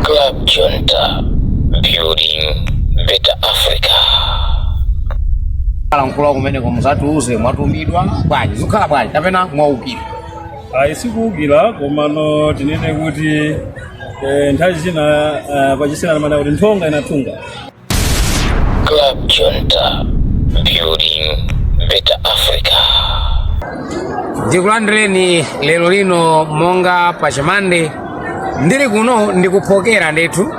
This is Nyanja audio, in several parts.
Club Junta, building better Africa. alankhula kumeneko muzatiuze mwatumidwa bwanji zikukhala bwanji kapena mwaukira ayi sikuukira komano tinene kuti eh, nthawi zina ah, pachisena amanena kuti nthonga inathunga Club Junta, building better Africa. ndikulandireni lero lino monga pa chamande ndili kuno ndikuphokera ndithu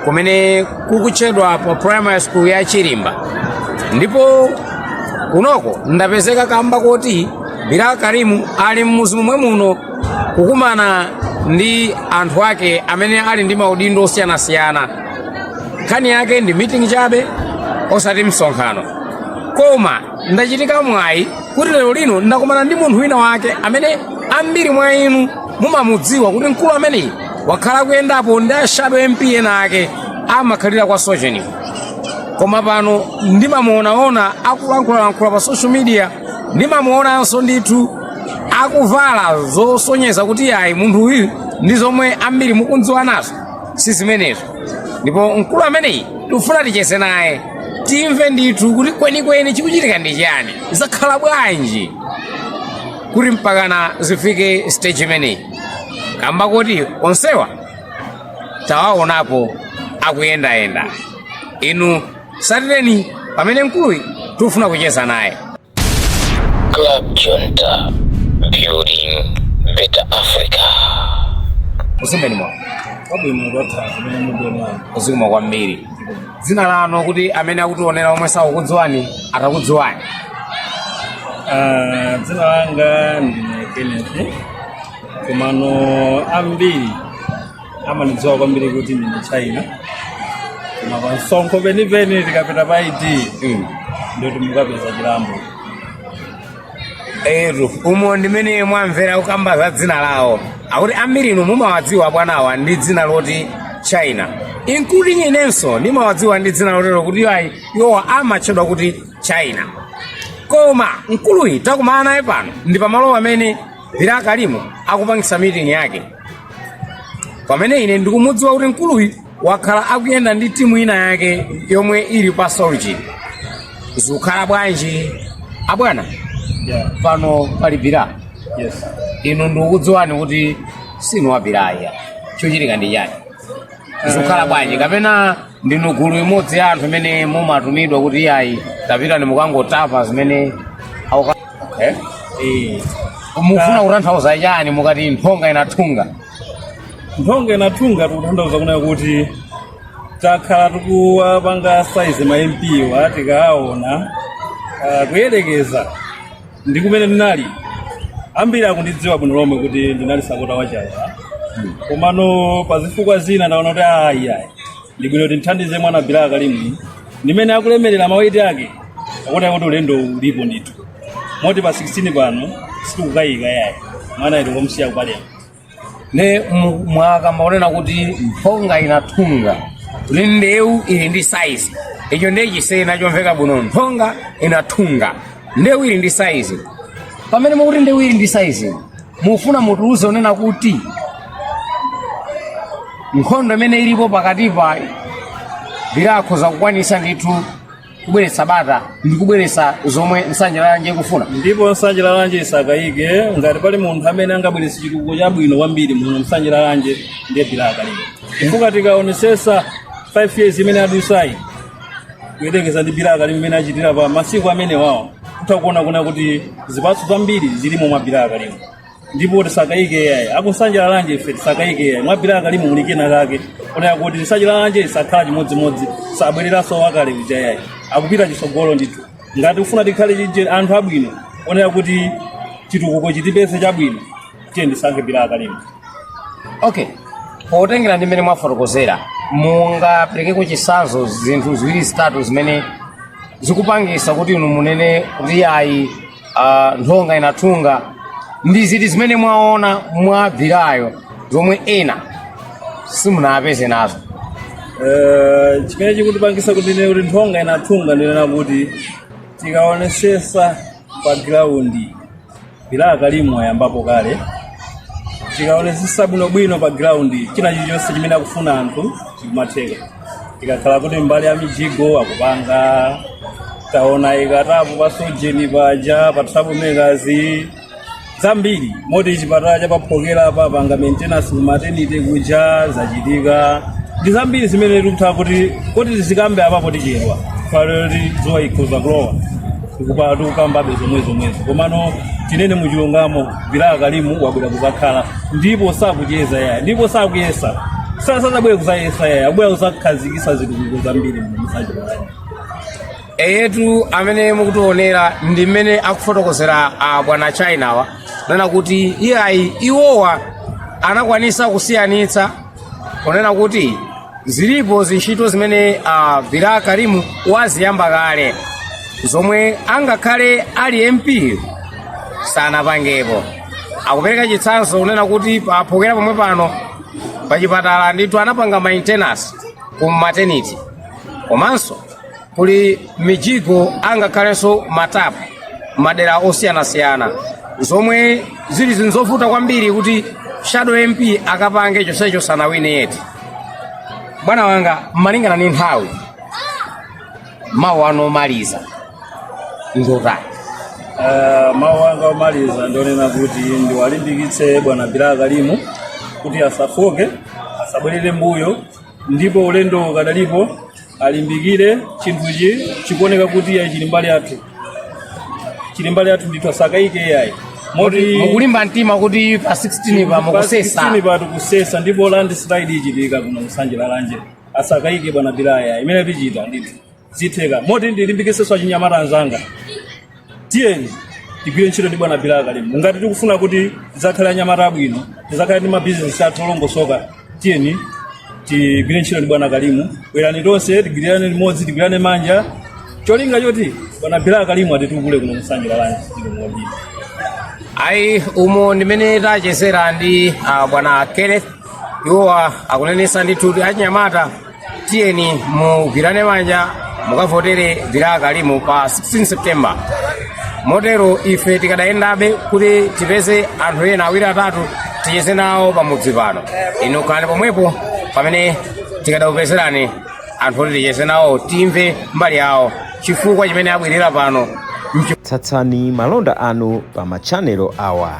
kumene kukutchedwa pa primary school ya chilimba ndipo kunoko ndapezeka kamba koti bilal karimu ali mmuzi momwe muno kukumana ndi anthu ake amene ali ndi maudindo osiyanasiyana nkhani yake ndi meeting chabe osati msonkhano koma ndachitika mwayi kuti lero lino ndakumana ndi munthu wina wake amene ambiri mwa inu mumamudziwa kuti mkulu ameneyi wakhala kuyendapo ndi ashadow MP ena ake amakhalira kwa Soche koma pano ndimamuonaona akulankhulalankhula pa social media ndimamuonanso ndithu akuvala zosonyeza kuti ayi munthu uyu ndi zomwe ambiri mukumdziwa nazo si zimenezo ndipo mkulu ameneyi tikufuna ticheze naye timve ndithu kuti kwenikweni chikuchitika ndi chiyani zakhala bwanji kuti mpakana zifike stage imeneyi kamba koti onsewa tawaonapo akuyendayenda inu tsatireni pamene mkuluyi tikufuna kucheza naye Club Junta, building better Africa. muzimeni mwa wabwino ndotha zimene mubwera zikomo kwambiri dzina lanu kuti amene akutionera omwe sakukudziwani atakudziwani Ah, dzina langa ndine kenneth komano ambiri amanidziwa kwambiri kuti ndine china koma pa msonkho penipeni tikapita pa id Mm. ndoti mukapeza chilambo etu umo ndimene mwamvera kukamba za dzina lawo akuti ambiri inu mumawadziwa bwanawa ndi dzina loti china including inenso ndimawadziwa ndi dzina lotero kuti iwo ayi iwowa amatchedwa kuti china koma mkuluyi takumana naye pano ndi pamalo amene bilal karimu akupangitsa meeting yake pamene ine ndikumudziwa kuti mkuluyi wakhala akuyenda ndi timu ina yake yomwe ili pa solji zikukhala bwanji abwana Yeah. pano pali bilal Yes. inu ndikukudziwani kuti sinu wa bilal ayi chochitika ndi chani zikukhala bwanji kapena ndinu gulu imodzi ya anthu imene mumatumidwa kuti iyayi tapitani mukangotapa zimene auka- okay. Eh, mufuna kutanthauza chani mukati nthonga inathunga nthonga inathunga tikutanthauza kunena kuti takhala tikuwapanga saizi ma mp wa tikaona ah, kuyerekeza ndi kumene ndinali ambiri akundidziwa bwino lomwe kuti ndinali sapota wachawa komano pa zifukwa zina ndaona kuti ayi ayi ndi bwino kuti timthandize mwana Bilal Karimu ndimene akulemerera maweti ake akuona kuti ulendo ulipo ndithu moti pa 16 pano sitikukayika yayi mwanayu tikamsiya ku parliament ne mu- mwakamba kunena kuti nthonga inathunga kuti ndewu ili ndi saizi icho ndiye chisena chomveka bwino nthonga inathunga ndewu ili ndi saizi pamene mukuti ndewu ili ndi saizi mufuna mutiuze kunena kuti nkhondo imene ilipo pakati pa Bilal akhoza kukwanisa ndithu kubweretsa bata ndi kubweretsa zomwe nsanje lalanje ikufuna ndipo nsanje lalanje isakayike ngati pali munthu amene angabweretse chitukuko chabwino kwambiri muno nsanje lalanje ndiye Bilal Karimu chifukwa tikaonesesa 5 years imene adusayi kuyerekeza ndi Bilal Karimu imene achitira pa masiku amenewawo kutha kuona kuna kuti zipatso zambiri zilimo mwa Bilal Karimu ndipo tisakayike iyayi aku nsanje lalanje ife tisakayike iyayi mwa Bilal Karimu muli kena kake konena kuti nsanje lalanje sikhala chimodzimodzi sabwereranso wakale uja iyayi akupita chisogolo ndithu ngati ufuna tikhale chije anthu abwino onena kuti chitukuko chitipeze chabwino tiyeni tisankhe Bilal Karimu okay potengera ndi mmene mwafotokozera mungaperekeko chisanzo zinthu ziwiri zitatu zimene zikupangisa kuti inu munene kuti ayi a nthonga inathunga ndi ziti zimene mwaona mwa Bilal yo zomwe ena simunapeze nazo Eh, chimene chikutipangisa kuti tinene kuti nthonga inathunga ndinena kuti tikaonesesa pa giraundi Bilal Karimu wayambapo kale tikaonesesa bwinobwino pa giraundi china chilichonse chimene akufuna anthu chikumatheka ikakhala kuti mbali ya mijigo akupanga taona ikatapo pa Sorgin paja pa trouble makers zambiri moti chipatala cha pa Phokera apanga maintenance ku maternity kuja zachitika ndi zambiri zimene tikutha kuti kuti tizikambe apapo tichedwa palero kuti dzuwa ikhoza kulowa tikupala tikukambabe zomwe zomwezo komano tinene muchilungamo Bilal Karimu wabwera kuzakhala ndipo sakucheza yaya ndipo sakuyesa sasazabwere kuzayesa yaya abwera kuzakhazikisa zitukuko zambiri mu nsanje eyetu amene mukutionera ndi mmene akufotokozera a bwana chinawa kunena kuti iyayi iwowa anakwanisa kusiyanitsa kunena kuti zilipo zintchito zimene a Bilal Karim waziyamba kale zomwe angakhale ali MP sanapangepo akupereka chitsanzo kunena kuti pa Phokera pomwe pano pachipatala ndithu anapanga maintenance ku maternity komanso kuli mijigo angakhalenso matapu madera osiyanasiyana zomwe zili zinthu zovuta kwambiri kuti shadow MP akapange chosecho sanawine yeti bwana wanga malingana ndi nthawi mawu anu omaliza ndotani Eh, mawu anga omaliza ndionena kuti ndiwalimbikitse bwana Bilal Karim kuti asafooke asabwerere mbuyo ndipo ulendo ukadalipo alimbikire chinthuchi chikuoneka kuti yayi chili mbali yathu chili mbali yathu ndithu asakayike yayi moti mukulimba mtima kuti pa 16 pa mukusesa pa 16 patu kusesa ndipo landslide ichitika kuno ku Nsanje Lalanje asakayike bwana Bilal yayi imene tichita ndithu zitheka moti ndilimbikitsenso achinyamata anzanga tiyeni tigwire ntchito ndi bwana Bilal Karim ngati tikufuna kuti tidzakhale anyamata abwino tidzakhale ndi mabizinesi athu olongosoka tiyeni tigwire ntchito ndi bwana Karim bwerani tonse tigwirirane limodzi tigwirane manja cholinga choti bwana Bilal Karim atitukule kuno ku Nsanje Lalanje ndimodii ayi umo ndimene tachezera ndi ah, bwana Kenneth iwowa akunenesa ndithu kuti anyamata tiyeni tigwirane manja mukavotere Bilal Karim pa 16 September motero ife tikadayendabe kuti tipeze anthu ena awiri atatu ticheze nawo pamudzi pano inu khalani pomwepo pamene tikadakupezerani anthu oti ticheze nawo timve mbali yawo chifukwa chimene abwerera pano tsatsitsani malonda anu pa matchanelo awa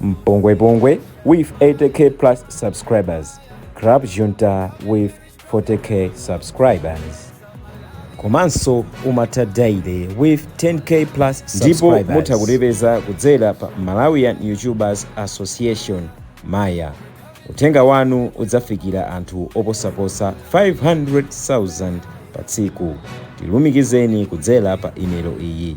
Mpongwepongwe with 80k plus subscribers. Club Junta with 40k subscribers. Komanso umatha daily with 10k plus subscribers. Ndipo mutha kutipeza kudzera pa Malawian YouTubers Association Maya. Uthenga wanu udzafikira anthu oposa 500,000 pa tsiku. Tilumikizeni kudzera pa imelo iyi.